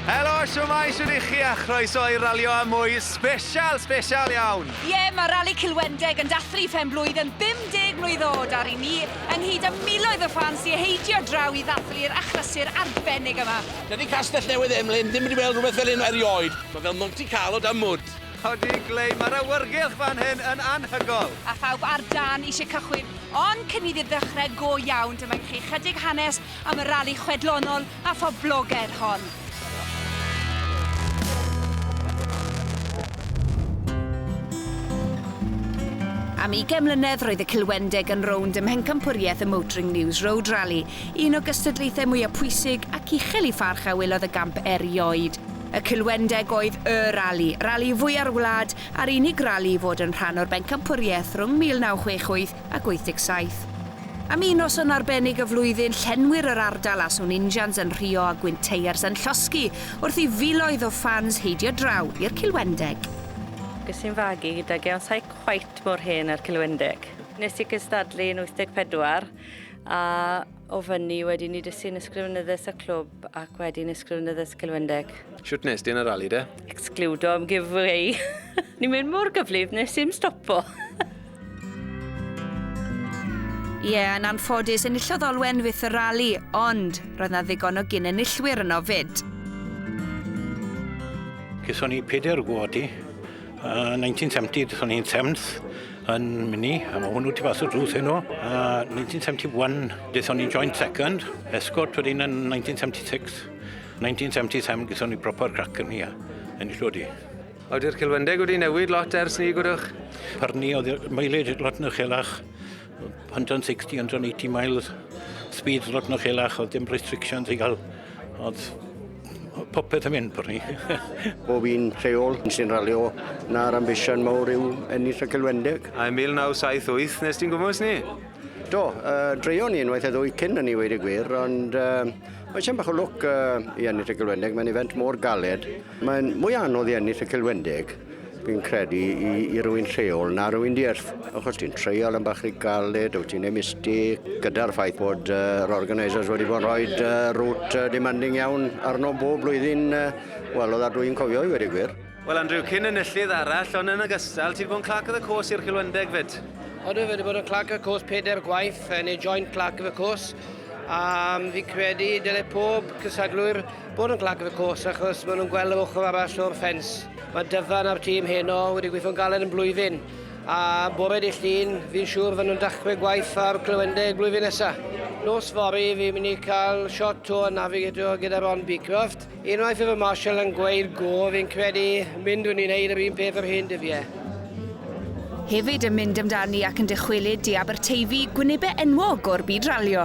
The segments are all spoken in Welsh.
Helo, siwmai, shwt i chi a chroeso i Ralio a Mwy sbesial, sbesial iawn! Ie, mae Rali Cilwendeg yn dathlu phen-blwydd yn 50 mlwydd oed a ry'n ni, ynghyd â miloedd o ffans sy heidio draw i ddathlu'r achlysur arbennig yma. Dydy Castell Newydd Emlyn ddim wedi weld rhywbeth fel hyn erioed. Mae fel Monte Carlo dan mwd. Ydi, Glei, mae'r awyrgylch fan hyn yn anhygol! A phawb ar dân eisiau cychwyn, ond cyn iddi ddechrau go iawn, dyma i chi ychydig hanes am y rali chwedlonol a phoblogedd hon. Am ugain mlynedd roedd y Cilwendeg yn rownd ym mhencampwriaeth y Motoring News Road Rally, un o gystadlaethau mwyaf pwysig ac uchel i pharch a welodd y gamp erioed. Y Cilwendeg oedd y rali, rali fwya'r wlad, a'r unig rali i fod yn rhan o'r bencampwriaeth rhwng 1968 ac 87. Am un noson arbennig y flwyddyn, llenwir yr ardal â swn injans yn rhuo a gwynteiers yn llosgi wrth i filoedd o ffans heidio draw i'r Cilwendeg. Ges i'n fagu gydag e ond sai cweit mor hen â'r Cilwendeg. Nes i gystadlu yn 84 a O fyny, wedyn ni dysgu'n ysgrifennyddus y clwb ac wedyn ysgrifennyddus Cilwendeg. Siwt nes di yn y rali de? Excludo am giveaway. Ni'n mynd mor gyflif nes i'm stopo. Ie, yeah, yn anffodus, enillodd Olwen fyth y rali, ond roedd na ddigon o gyn-enillwyr yno fyd. Gethon ni peder gwodi, Uh, 1970, dethon ni'n Thames yn Mini, a mae hwnnw tu fas y drws heno. Uh, 1971, dethon ni'n joint second, escort wedyn yn 1976. 1977, gyson ni proper crac yn hi, a ennill wedi. Awdur Cilwendeg wedi newid lot ers ni, gwydwch? Parni, oedd mileage lot yn uchelach. 160, 180 miles speed lot na chelach, oedd dim restrictions i gael. Oedd popeth yn mynd bod ni. Bob un lleol sy'n ralio na'r ambition mawr yw ennill y Celwendeg. A 1978 nes ti'n gwmwys ni? Do, uh, dreio ni unwaith a ddwy cyn yn ei wedi gwir, ond uh, mae sian bach o lwc uh, i ennill y Celwendeg. Mae'n event mor galed Mae'n mwy anodd i ennill y Cilwendeg, fi'n credu, i, i rywun lleol na rywun dierf. Achos ti'n treial yn bach rhy galed, wyt ti'n emisti, gyda'r ffaith bod uh, yr organisers wedi bod yn rhoi uh, rŵt uh, demanding iawn arno bob blwyddyn, uh, wel, oedd a dwi'n cofio i wedi gwir. Wel, Andrew, cyn enillydd arall, ond yn ogystal, ti wedi bod yn clac of the course i'r Cilwendeg fyd? Oedden wedi bod yn clac of the course peder gwaith, yn ei joint clac of the course, a fi'n credu dylai pob cysadlwyr Bod yn glad gyda'r cwrs achos maen nhw'n gweld yr ochr arall o'r ffens. Mae Dyfan a'r tîm heno wedi gweithio'n galed yn blwyddyn a bore dy llun fi'n siŵr fy nhw'n dachrau gwaith ar Clywendeg blwyddyn nesaf. Nos fory fi'n mynd i cael shot o Navigator gyda Ron Beecroft. Unwaith y fy Marshall yn gweud go fi'n credu mynd rwy'n i'n neud yr un peth yr hen dyfiau. Hefyd yn mynd amdani ac yn dychwelyd i Aberteifi gwynebau enwog o'r byd ralio.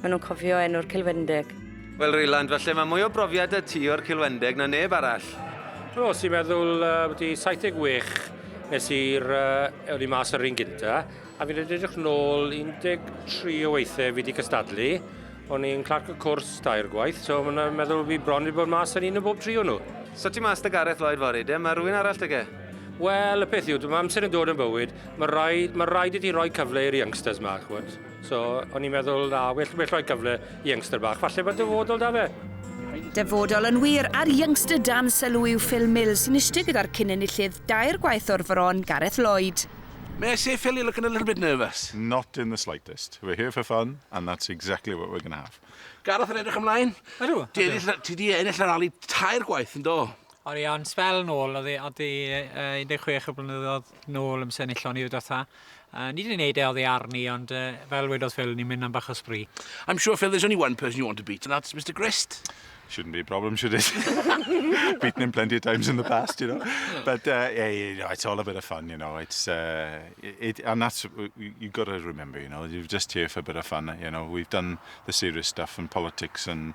Maen nhw'n cofio enw'r Cilwendeg. Wel Ryland, falle mae mwy o brofiad 'da ti o'r Cilwendeg na neb arall. Wel, os ti'n meddwl, uh, wedi 76 nes i'r uh, eoli mas yr un gynta, a fi'n edrych nôl 13 o weithiau fi wedi cystadlu, o'n i'n clarc y cwrs dair gwaith, so mae'n meddwl fi bron wedi bod mas yn un o bob tri o nhw. So ti mas da Gareth Lloyd fory, de? Mae rhywun arall da ge? Wel, y peth yw, mae amser yn dod yn bywyd, mae rhaid, mae rhaid i ti roi cyfle i'r youngsters ma, chwod. So, o'n i'n meddwl, na, well, well rhoi cyfle i youngster bach, falle bod dyfodol da fe. Dyfodol yn wir, a'r youngster dan sylw yw Phil Mill sy'n eistedd gyda'r cyn-enillydd dair gwaith o'r Fron, Gareth Lloyd. May I say, Phil, you're looking a little bit nervous. Not in the slightest. We're here for fun, and that's exactly what we're going to have. Gareth yn edrych ymlaen. Ydw. Ti wedi ennill y rali tair gwaith yn do? O'n i o'n spel nôl, oedd e, oedd e uh, 16 o blynyddoedd nôl yn senillon i'r dotha. Yy ni 'di neud e oddi arni ond yy fel wedodd Phil ni'n mynd am bach o spree. I'm sure Phil there's only one person you want to beat and that's Mister Grist. Shouldn't be a problem should it? Beaten him plenty of times in the past you know but uh yeah you know it's all a bit of fun you know it's uh it and that's you got to remember you know you're just here for a bit of fun you know we've done the serious stuff and politics and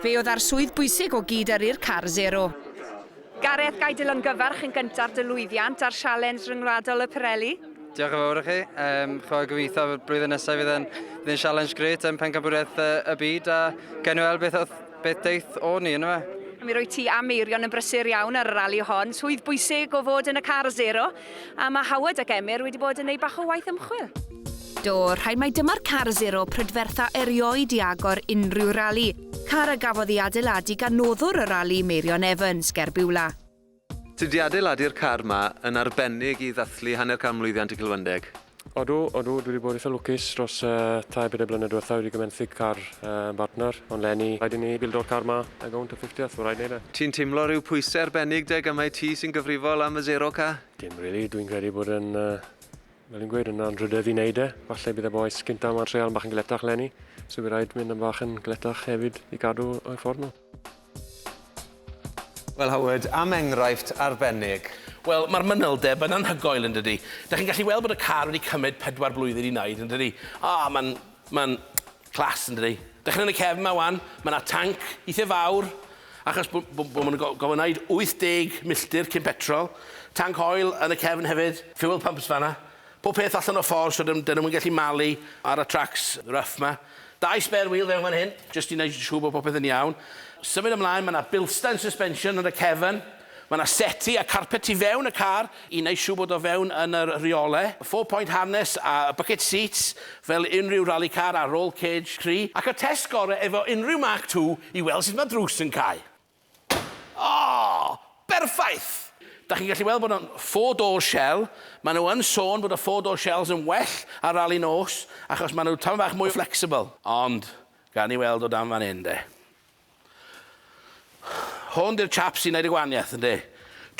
Fe oedd â'r swydd bwysig o gyd-yrru'r car sero. Gareth, ga i dilyngyfarch yn gyntaf dy lwyddiant ar Sialens Ryngwladol y Pirelli? Diolch yn fawr i chi. Um, chwa gobeithio bod blwyddyn nesaf fydd yn, fydd yn sialens gret yn pencabwriaeth uh, y byd a gen i weld beth, beth deith o ni yna fe. Mi rwy ti am eirion yn brysur iawn ar y rali hon. Swydd bwysig o fod yn y car zero. A mae Howard ac Emyr wedi bod yn ei bach o waith ymchwil. Do, rhaid mai dyma'r car zero prydfertha erioed i agor unrhyw rali, car a gafodd ei adeiladu gan noddwr y rali, Meirion Evans, ger Biwla. Tydi adeiladu'r car 'ma yn arbennig i ddathlu hanner can mlwyddiant y Cilwyndeg. Odw, odw, dwi wedi bod eitha lwcus dros tair bedair blynedd diwetha, wedi gymenthyg car yn bartner, ond leni, rhaid i ni bildo'r car ma a gownt y ffifteth, mae'n rhaid neud e. Ti'n timlo rhyw pwyse arbennig deg am mai ti sy'n gyfrifol am y zero ca? Dim rili, dwi'n credu bod yn, fel fi'n gweud, yn anrhydedd i neud e, falle bydd y bois gynta ma'n treial yn bach yn galetach leni, so bydd rhaid mynd yn bach yn galetach hefyd i gadw o'i ffordd nhw. Wel, Howard, am enghraifft arbennig. Wel, mae'r manylder, mae'n anhygoel, yn dydy. Da chi'n gallu weld bod y car wedi cymryd pedwar blwyddyn i wneud, yn dydy. O, mae'n... mae'n... clas, yn dydy. Da chi'n yn y cefn yma, wan, mae yna tanc eithaf fawr, achos bod bo, bo maen nhw'n gofyn wneud 80 milltir cyn petrol. Tanc oil yn y cefn hefyd, fuel pumps fanna. Pob peth allan o ffordd so dyn nhw'm yn gallu malu ar y tracs rough 'ma. Dau spare wheel fewn fan hyn jyst i wneud yn siŵr bod popeth yn iawn. Symud ymlaen, mae 'na Bilstein suspension yn y cefn, mae 'na seti a carpet tu fewn y car i wneud siŵr bod o fewn yn y rheolau, four point harness a bucket seats fel unrhyw rali car a roll cage cry, ac y test gorau efo unrhyw Mark ii i weld sut mae drws yn cau. O! Berffaith! Dach chi'n gallu weld bod o'n four door shell, maen nhw yn sôn bod y four door shells yn well ar rali nos achos maen nhw tam fach mwy flexible. Ond, gawn ni weld o dan fan hyn de. Hwn di'r chap sy'n neud y gwaniath, ynde?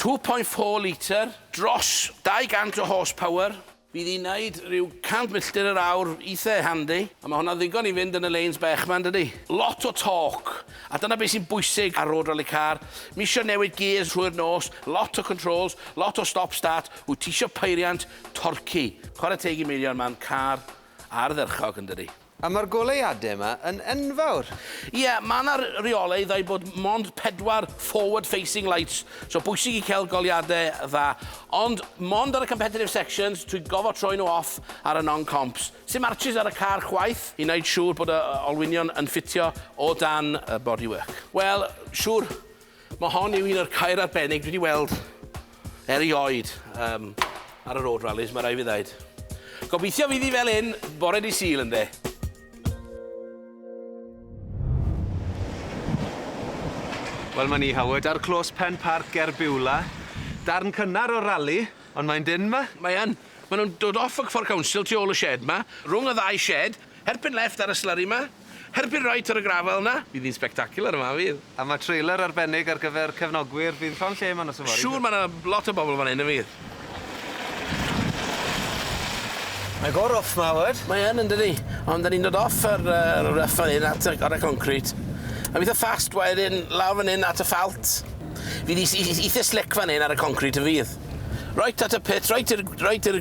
Two point four litre, dros 200 o horse power. Fi 'di neud rhyw 100 milltir yr awr eitha handi, a ma' hwnna'n ddigon i fynd yn y lanes bech 'ma, yndydi? Lot o torque, a dyna be' sy'n bwysig ar road rally car. M'isio newid gears trwy'r nos, lot o controls, lot o stop start, wyt ti isio peiriant torquey. Chware teg i Meirion, mae'n car ardderchog, yndydi? A mae'r goleuadau yma yn enfawr! Ie, mae 'na reolaidd a'i bod mond pedwar forward facing lights, so bwysig i cael goleuadau dda. Ond mond ar y competitive sections, dwi'n gofod troi nhw off ar y non-comps. Sim arches ar y car chwaith i wneud siŵr bod y olwynion yn ffitio o dan y bodywork. Wel, siŵr Mae hon yw un o'r caeau arbennig dwi wedi weld erioed um, ar y road rallies, mae rai fi ddaid. Gobeithio fydd hi fel un bore di syl ynddo. Wel, mae ni Howard ar clos Pen Parc ger Biwla. Darn cynnar o'r rali, ond mae'n dyn yma. Mae yn. Mae nhw'n dod off y ffordd council tu ôl y shed yma, rhwng y ddau shed, erbyn left ar y slurry yma. Herbyn right ar y gravel 'na. Bydd hi'n spectacular yma fydd? A mae trailer arbennig ar gyfer cefnogwyr, bydd llond lle yma nos yfory? Siŵr mae 'na lot o bobl fan hyn yn fydd? Mae go rough 'ma Howard. Mae yn yndydi? Ond 'da ni'n dod off yr yy rough fan hyn at y ar y concrit. Am eitha fast wedyn lawr fan hyn at y ffalt. Fydd 'i 'i 'i eitha slic fan hyn ar y concrit yn fydd? Right at y pit right i'r right i'r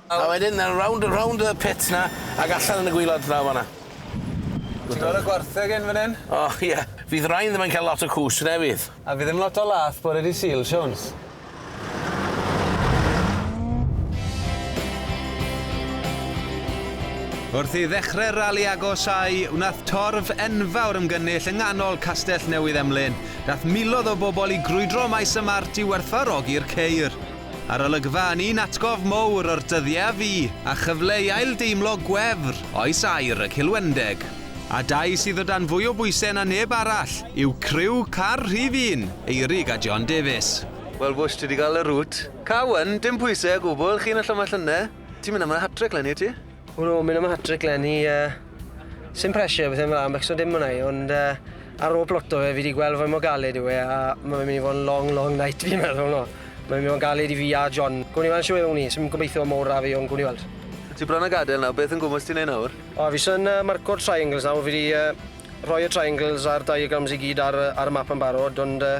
A wedyn yn rownd a rownd y pit 'na ag allan yn y gwilod draw fan 'na. Ti'n gweld y gwartheg 'yn fan 'yn? O ie. Fydd rain ddim yn ca'l lot o cwsg na fydd? A fydd ddim lot o lath bore dy' Sul, Siawns? Wrth i ddechre'r rali agosáu, wnaeth torf enfawr ymgynnull yng nghanol Castell Newydd Emlyn. Daeth miloedd o bobl i grwydro maes y Mart i werthfawrogi'r ceir. A'r olygfa yn un atgof mowr o'r dyddie a fu, a chyfle i ail-deimlo gwefr oes aur y Cilwendeg. A dau sydd o dan fwy o bwyse na neb arall yw criw car rhif un, Eirig a John Davies. Wel Bush ti 'di ga'l y root. Cowen, dim pwyse o gwbwl, chi'n y llymash lynne. Ti'n mynd am y hat-trick 'lenni wyt ti? O'n nhw'n mynd am y hat-trick lenni, uh, sy'n pressure beth ymlaen am becso dim hwnna i, ond uh, ar ôl ploto fe fi wedi gweld fwy mor galed yw e a mae'n mynd i fod yn long, long night fi'n meddwl no. Mae'n mynd i fod yn galed i fi a John. Gwni i weld siw ewn ni, sy'n gobeithio mor ra fi ond gwni i weld. Ti bron a gadael nawr, beth yn gwmwys ti'n ei nawr? O, fi sy'n uh, marco'r triangles nawr, fi wedi uh, rhoi y triangles a'r diagrams i gyd ar, ar y map yn barod, ond uh,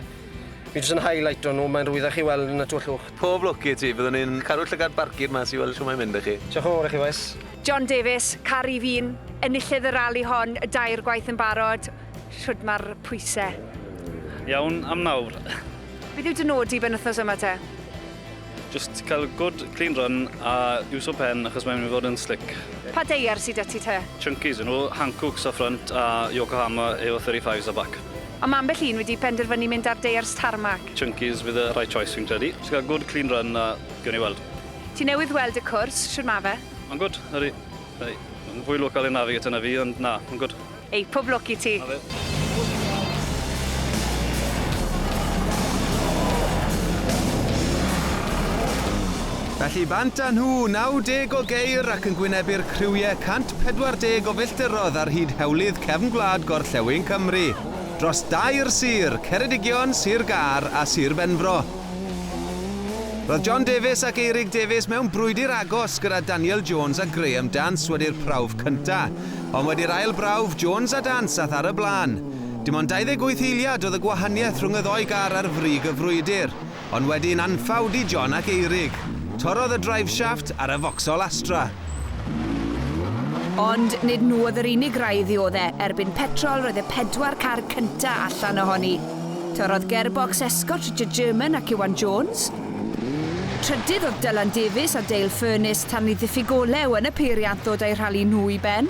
fi jyst yn highlight o'n nhw, mae'n rwyddach i weld yn y twllwch. Pob lwc i ti, byddwn ni'n caru llygad barcud mas i weld shwt mae'n mynd 'da chi. Diolch yn fawr i chi bois. John Davies, Caru Fi'n enillydd y rali hon dair gwaith yn barod, shwd ma'r pwyse? Iawn am nawr. Beth yw dy nod di benwthnos yma te? Jyst cael good clean run a iwso pen achos mae'n mynd i fod yn slick. Pa deiar sy da ti te? Chunkies yw nhw, Hankooks ar ffrynt a Yokohama efo 35s ar bac. A ma' ambell un wedi penderfynu mynd ar deiars tarmac. Chunky's fydd y right choice fi'n credu. Jyst cael good clean run a gewn ni weld. Ti newydd weld y cwrs, shwd ma fe? Ma'n gwd, ydi. Ydi. Ma'n fwy local i'r Navigator na fi ond na, ma'n gwd. Ei, pob lwc i ti. Felly bant â nhw, 90 o geir ac yn gwynebu'r criwiau 140 o filltirodd ar hyd hewlydd cefn gwlad gorllewin Cymru. dros dair sir, Ceredigion, Sir Gâr a Sir Benfro. Roedd John Davies ac Eirig Davies mewn brwydr agos gyda Daniel Jones a Graham Dance wedi'r prawf cynta', ond wedi'r ail brawf, Jones a Dance ath ar y blaen. Dim ond 28 eiliad oedd y gwahaniaeth rhwng y ddou gar ar frig y frwydr. ond wedi'n anffawd i John ac Eirig, torrodd y driveshaft ar y Vauxhall Astra. Ond nid nhw oedd yr unig rai i ddiodde', erbyn petrol roedd y pedwar car cynta' allan ohoni. Torrodd gerbocs Escott Richard German ac Iwan Jones. Trydydd oedd Dylan Davies a Dale Furness tan i ddiffyg olew yn y peiriant ddod â'u rhali nhw i ben.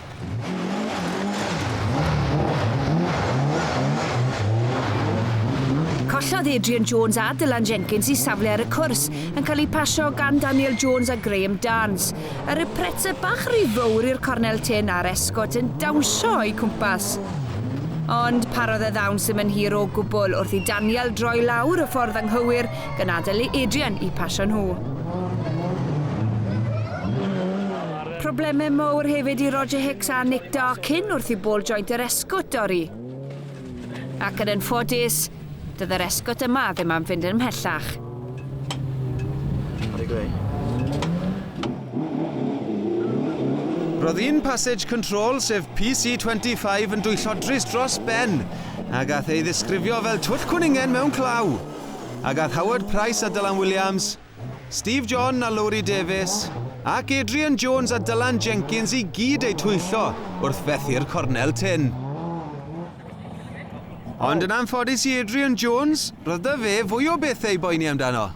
Collodd Adrian Jones a Dylan Jenkins i safle ar y cwrs, yn cael eu pasio gan Daniel Jones a Graham Dance. Yr oedd Pretzer bach ry fowr i'r cornel tynn a'r esgôt yn dawnsio o'u cwmpas. Ond parodd y ddawns ddim yn hir o gwbl wrth i Daniel droi lawr y ffordd anghywir gan adael i Adrian eu pasio nhw. Problemau mowr hefyd i Roger Hicks a Nick Darkin wrth i bôl joint yr esgwt dorri. Ac yn ffodus, doedd yr esgwt yma ddim am fynd yn ymhellach. Roedd un passage control, sef PC25, yn dwyllo drist dros ben, a gath ei ddisgrifio fel twll cwningen mewn claw. A gath Howard Price a Dylan Williams, Steve John a Lowri Davies, ac Adrian Jones a Dylan Jenkins i gyd eu twyllo wrth fethu'r cornel tynn. Ond yn anffodus i Adrian Jones, roedd 'da fe fwy o bethau i boeni amdano.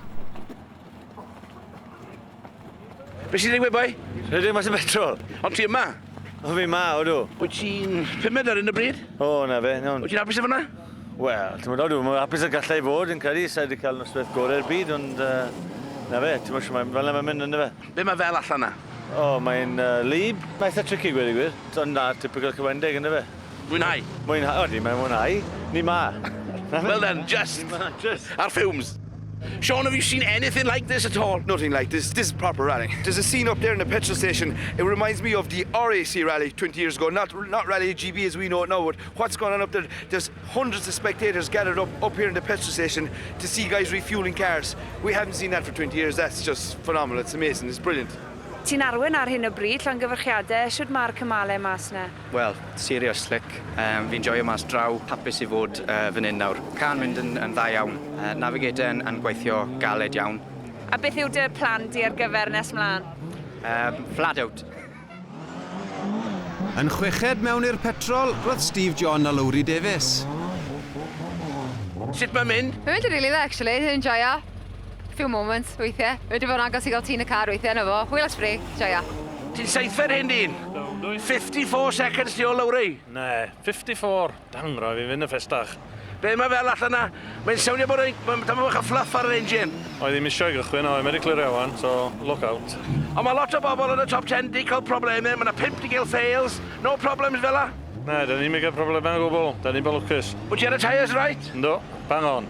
Be sy'n digwydd, boi? Rydym mas y betrol. Ond ti yma? O, fi yma, odw. Wyt ti'n pumed ar hyn o bryd? O, na fe, iawn. Wyt ti'n hapus efo 'na? Wel, ti'n meddwl, dwi'n hapus y gallai i fod, yn credu, sa'i wedi cael noswaith gorau'r byd, ond uh, na fe, ti'n meddwl, mae, fel yna mae'n mynd, ynddo fe. Be mae fel allan na? O, oh, mae'n uh, lib, mae'n eitha tricky, gwedi gwir, ond na, typical cywendeg, ynddo fe. Mwynhau? Mwynhau, o, di, mae'n mwynhau, ni ma. well then, just, just. Ar fumes. Sean, have you seen anything like this at all? Nothing like this. This is proper rally. There's a scene up there in the petrol station. It reminds me of the RAC rally 20 years ago. Not not rally GB as we know it now, but What's going on up there? There's hundreds of spectators gathered up, up here in the petrol station to see guys refueling cars. We haven't seen that for 20 years. That's just phenomenal. It's amazing. It's brilliant. Ti'n arwen ar hyn o bryd, llongyfarchiadau, sut mae'r cymalau mas na? Wel, serious slick. Um, fi'n joio mas draw, hapus i fod uh, fan hyn nawr. Can mynd yn, yn dda iawn. Uh, navigator yn, yn gweithio galed iawn. A beth yw dy plan di ar gyfer nes mlaen? Um, flat out. Yn chweched mewn i'r petrol, roedd Steve John a Lowri Davies. Sut mae'n mynd? Mae'n mynd yn rili dda actually, dwi'n enjoio. Few moments weithiau. Wedi bod yn agos i gael tîn y car weithiau yna fo. Hwyl at ffri, joio. Ti'n seithfed hyn dyn? 54 seconds ti o Lowri? Na, 54. Damn, rhaid fi fynd yn ffestach. Be mae fel allan na? Mae'n sownio bod rhaid, mae tam bach o fluff ar yr engine. Oedd ddim eisiau gychwyn o Americlear Iawn, so look out. Ond mae lot o bobl yn y top 10 di cael problemau, mae na 5 di gael fails, no problems fela? Na, da ni'm i gael problemau o gwbl, da ni'n bod lwcus. Wyt ti ar y tyres reit? Yndw, bang on.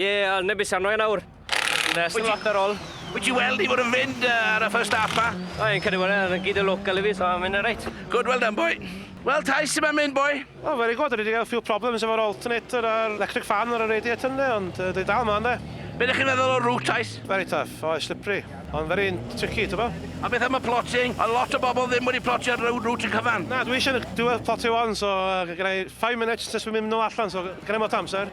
Ie, al neb i sarno e nawr. Nes yn lot ar ôl. Wyt ti weld i fod yn fynd uh, ar y first half ma? O, yn credu bod e, yn gyd y local i fi, so mae'n reit. Good, well done, boy. Wel, Tais, sy'n mynd, boy? O, oh, very good, rydyn ni gael few problems efo'r alternator a'r electric fan ar y radiator ynddo, ond uh, dwi dal ma ynddo. Be ydych chi'n meddwl o'r route, Tais? Very tough, o, oh, slippery, ond very tricky, ti'n bo? A beth am y plotting? A lot o bobl ddim wedi plotio'r road route yn cyfan. Na, dwi eisiau dwi wedi plotio on, so uh, gyda 5 minutes nes dwi'n mynd nhw allan, so gyda mot amser.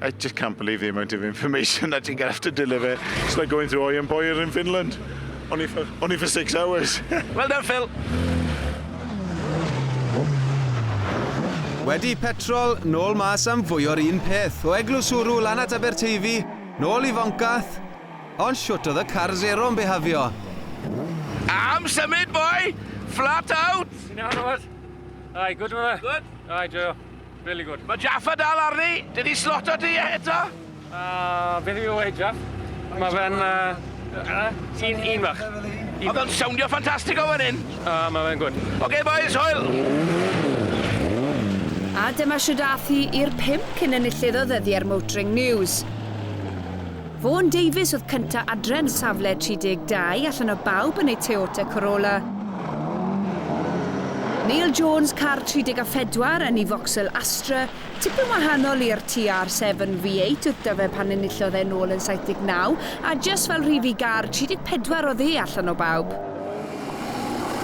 I just can't believe the amount of information that you're going to have to deliver. It's like going through Oy and Boyer in Finland. Only for, only for six hours. well done, Phil. Wedi petrol, nôl mas am fwy o'r un peth, o Eglwys Wrw lan at Aberteifi, nôl i Foncath, ond siwt oedd y car zero yn behafio. Am symud, boy! Flat out! Ti'n iawn, Robert? Aye, good, Robert? Good? Aye, Joe. Really good. Mae Jaffa dal arni! Dydi sloto di e eto? Uh, beth yw e, Jaff? Mae fe'n... Uh, uh, un, un fach. Mae fe'n sowndio ffantastig o fan hyn. Uh, mae fe'n gwrdd. Oce, okay, boys, hwyl! A dyma siwdath hi i'r pimp cyn enillydd o ddyddiau'r Motoring News. Vaughan Davies oedd cyntaf adre yn safle 32 allan o bawb yn ei Toyota Corolla. Neil Jones, car 34 yn ei Vauxhall Astra, tipyn wahanol i'r TR7 V8 oedd 'da fe pan enillodd e'n ôl yn 79, a jyst fel rhif i gar 34 oedd e allan o bawb.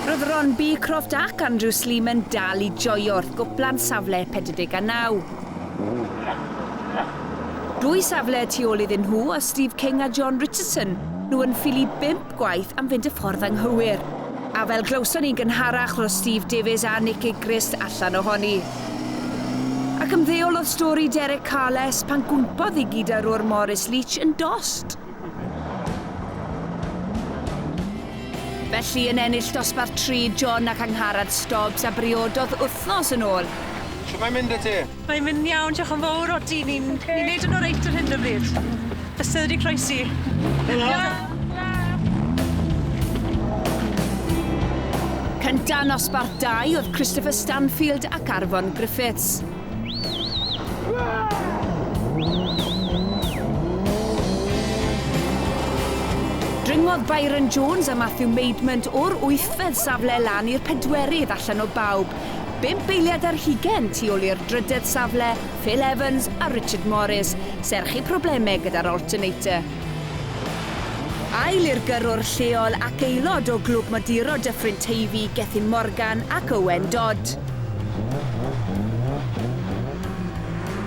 Roedd Ron Beecroft ac Andrew Sleeman dal i joio wrth gwpla'n safle 49. Dwy safle y tu ôl iddyn nhw oedd Steve King a John Richardson, nhw yn ffili bump gwaith am fynd y ffordd anghywir. A fel glywson ni'n gynharach roedd Steve Davies a Nick Gilchrist allan ohoni. Ac ymddeolodd stori Derek Carles pan gwmpodd i gyd â rwr Maurice Leach yn dost. Felly yn ennill dosbarth tri John ac Angharad Stobbs a briododd wythnos yn ôl. Shwt mae'n mynd 'da ti? Mae'n mynd iawn, diolch yn fowr, odi, ni'n ni'n neud yn oreit ar hyn o bryd. Bysedd wedi croesi. Helo! Cynta' nosbarth dau oedd Christopher Stanfield ac Arfon Griffiths. Dringodd Byron Jones a Matthew Maidment o'r wythfed safle lan i'r pedwerydd allan o bawb. Bump eiliad ar hugen tu ôl i'r drydedd safle, Phil Evans a Richard Morris, serch eu problemau gyda'r alternator. Ail i'r gyrrwr lleol ac aelod o Glwb Moduro Dyffryn Teifi, Gethin Morgan ac Owen Dodd.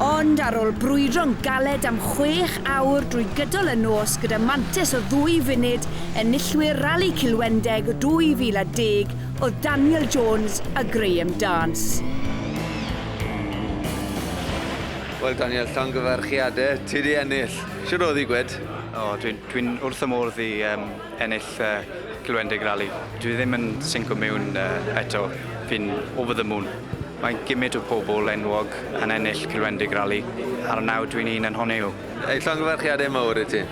Ond ar ôl brwydro'n galed am chwech awr drwy gydol y nos gyda mantais o ddwy funud, enillwyr Rali Cilwendeg 2010 oedd Daniel Jones a Graham Dance. Wel Daniel, llongyfarchiadau, ti 'di ennill! Shwd oedd hi, Gwed? O, dwi, dwi'n wrth y modd i um, ennill uh, Glywendeg Rally. Dwi ddim yn synco mewn uh, eto. Fi'n over the moon. Mae gymryd o pobl enwog yn ennill Glywendeg Rally, ar y naw dwi'n un yn honni nhw. Ei llongyfarchiadau mawr i ti.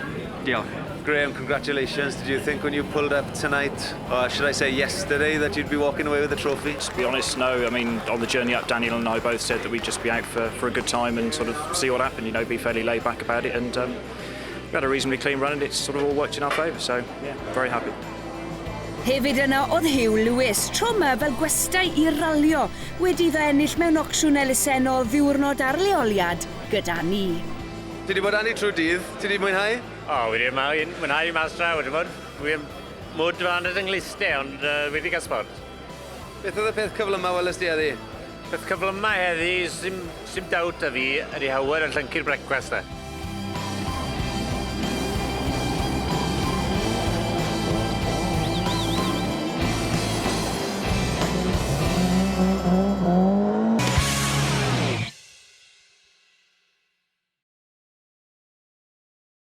Diolch. Graham, congratulations. Did you think when you pulled up tonight Oh, should I say yesterday that you'd be walking away with a trophy? To be honest, no. I mean, on the journey up, Daniel and I both said that we'd just be out for, for a good time and sort of see what happened, you know, be fairly laid back about it. And um, we had a reasonably clean run and it's sort of all worked in our favour. So, yeah, very happy. Hefyd yna oedd Hugh Lewis, tro yma fel gwestai i ralio, wedi iddo ennill mewn ocsiwn elusennol ddiwrnod ar leoliad gyda ni. Ti wedi bod â ni trwy dydd, ti wedi mwynhau? O, wedi mwynhau, mwynhau mas draw, wedi bod. Wi yn mwd fân yn fy nghlust-e, ond yy wedi cael sbort. Beth oedd y peth cyflyma weles di heddi? Peth cyflyma heddi, sim sim dowt 'da fi, ydi Howard yn llyncu'r brecwast 'na.